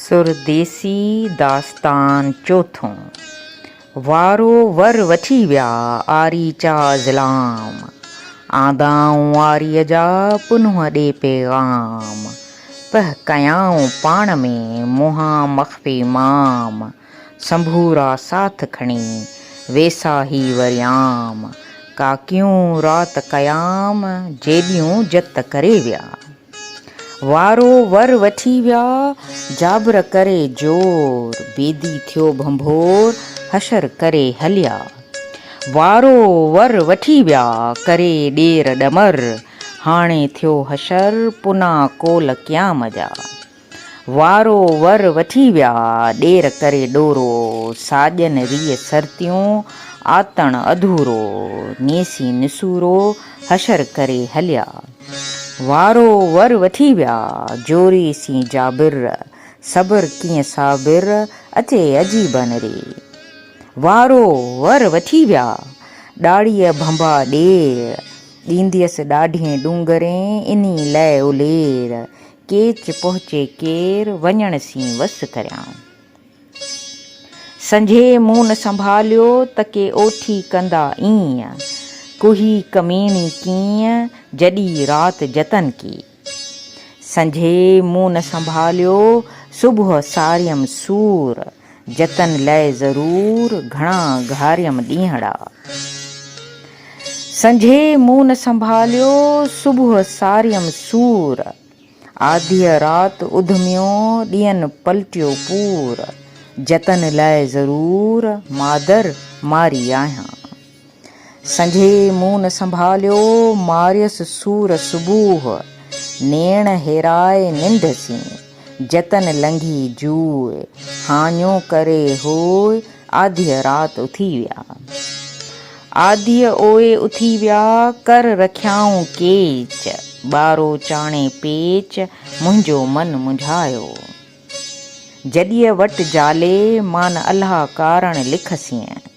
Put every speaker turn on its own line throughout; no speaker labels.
سرديسي داستان چوٿون، وارو ور وٺي ويا آري چا ظلام، آندائون آريء جا پنهون ڏي پيغام، پهه ڪيائون پاڻ ۾ منهان مخفي مام، سنڀورا ساٿ کڻي ويساهي وريام، ڪاڪيون رات ڪيام جيڏيون جت ڪري ويا. وارو ور وٺي ويا جابر ڪري زور. بيدي ٿيو ڀنڀور حشر ڪري هليا. وارو ور وٺي ويا ڪري ڏير ڏمر. هاڻي ٿيو حشر پنا ڪول قيام جا. وارو ور وٺي ويا ڏير ڪري ڏورو، ساڄن ريء سرتيون آتڻ اڌورو، نيسي نسورو حشر ڪري هليا. وارو ور وٺي ويا جوري سين جابر، صبر ڪيئن صابر اچي عجيبن ري. وارو ور وٺي ويا ڏاڙهيء ڀنڀا ڏير، ڏينديس ڏاڍين ڏونگرين انهي لئه الير، ڪيچ پهچي ڪير، وڃڻ سين وس ڪريائون. سنجهي مون نه سنڀاليو، ته ڪي اوٺي ڪندا ايئن. ڪوهي ڪميڻي ڪيئن، جڏي رات جتن ڪي. سنجهي مون نه سنڀاليو، صبح ساريم سور. جتن لئه ضرور گهڻا گهاريم ڏينهڙا. سنجهي مون نه سنڀاليو صبح ساريم سور. آڌيء رات اڌميو ڏينهن پلٽيو پور. جتن لئه ضرور مادر ماري آهيان. سنجهي منهن نه سنڀاليو، ماريس سور صبوح، نيڻ هيرائي ننڊ سين، جتن لنگهي جوء، هاڃو ڪري هوء آڌيء رات اٿي ويا. آڌيء اوئي اٿي ويا، ڪر رکيائون ڪيچ، ٻارو چاڻي پيچ، منهنجو من منجهايو. جڏيء وٽ جالي، مان نه الها ڪارڻ لک سين.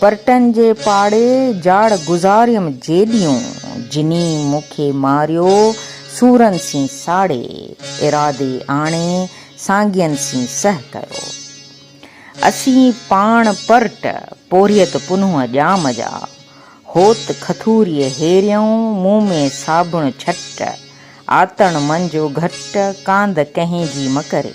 پرٽن جي پاڙي جاڙ گذاريم جيڏيون، جني مون کي ماريو سورن سين ساڙي، ارادي آڻي سانگين سين سهه ڪيو. اسين پاڻ پرٽ، پورهيت پنهون ڄام جا، هوت کٿوريء هيريون، مون ۾ صابڻ ڇٽ، آتڻ منجو گهٽ، ڪاند ڪنهين جي مڪري.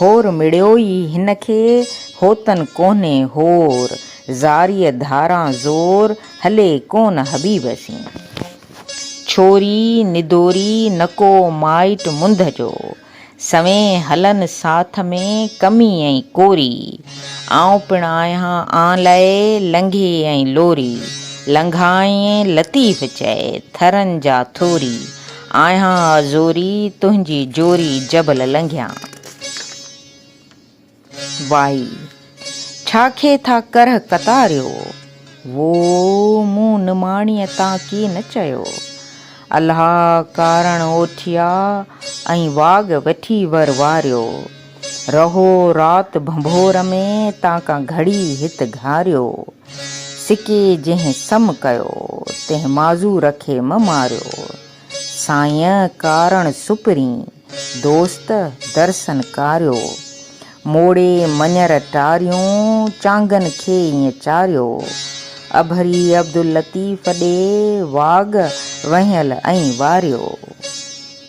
هور مڙيو ئي هن کي، هوتن ڪونهي هور. زاريء ڌاران زور، هلي ڪونه حبيب سين. ڇوري ندوري نڪو مائٽ منڌ جو، سوين هلن ساٿ ۾ ڪمي ۽ ڪوري. آئون پڻ آهيان آن لئه لنگهي ۽ لوري، لنگهائين لطيف چئي، ٿرن جا ٿوري. آهيان زوري تنهنجي جوري جبل لنگهيان. وائي! ڇا کي ٿا ڪرهه ڪتاريو. وو! مون نماڻيء تان ڪي نه چيو. الها ڪارڻ اوٺيا ۽ واڳ وٺي ور واريو. رهو رات ڀنڀور ۾ تان ڪا گهڙي هت گهاريو. سڪي جنهن سم ڪيو، تنهن معذور کي مه ماريو. سائين ڪارڻ سپرين، دوست درسن ڪاريو. موڙي مڃر ٽاريون، چانگن کي ائين چاريو. اڀري عبداللطيف ڏي، واڳ وهنيل ائين واريو.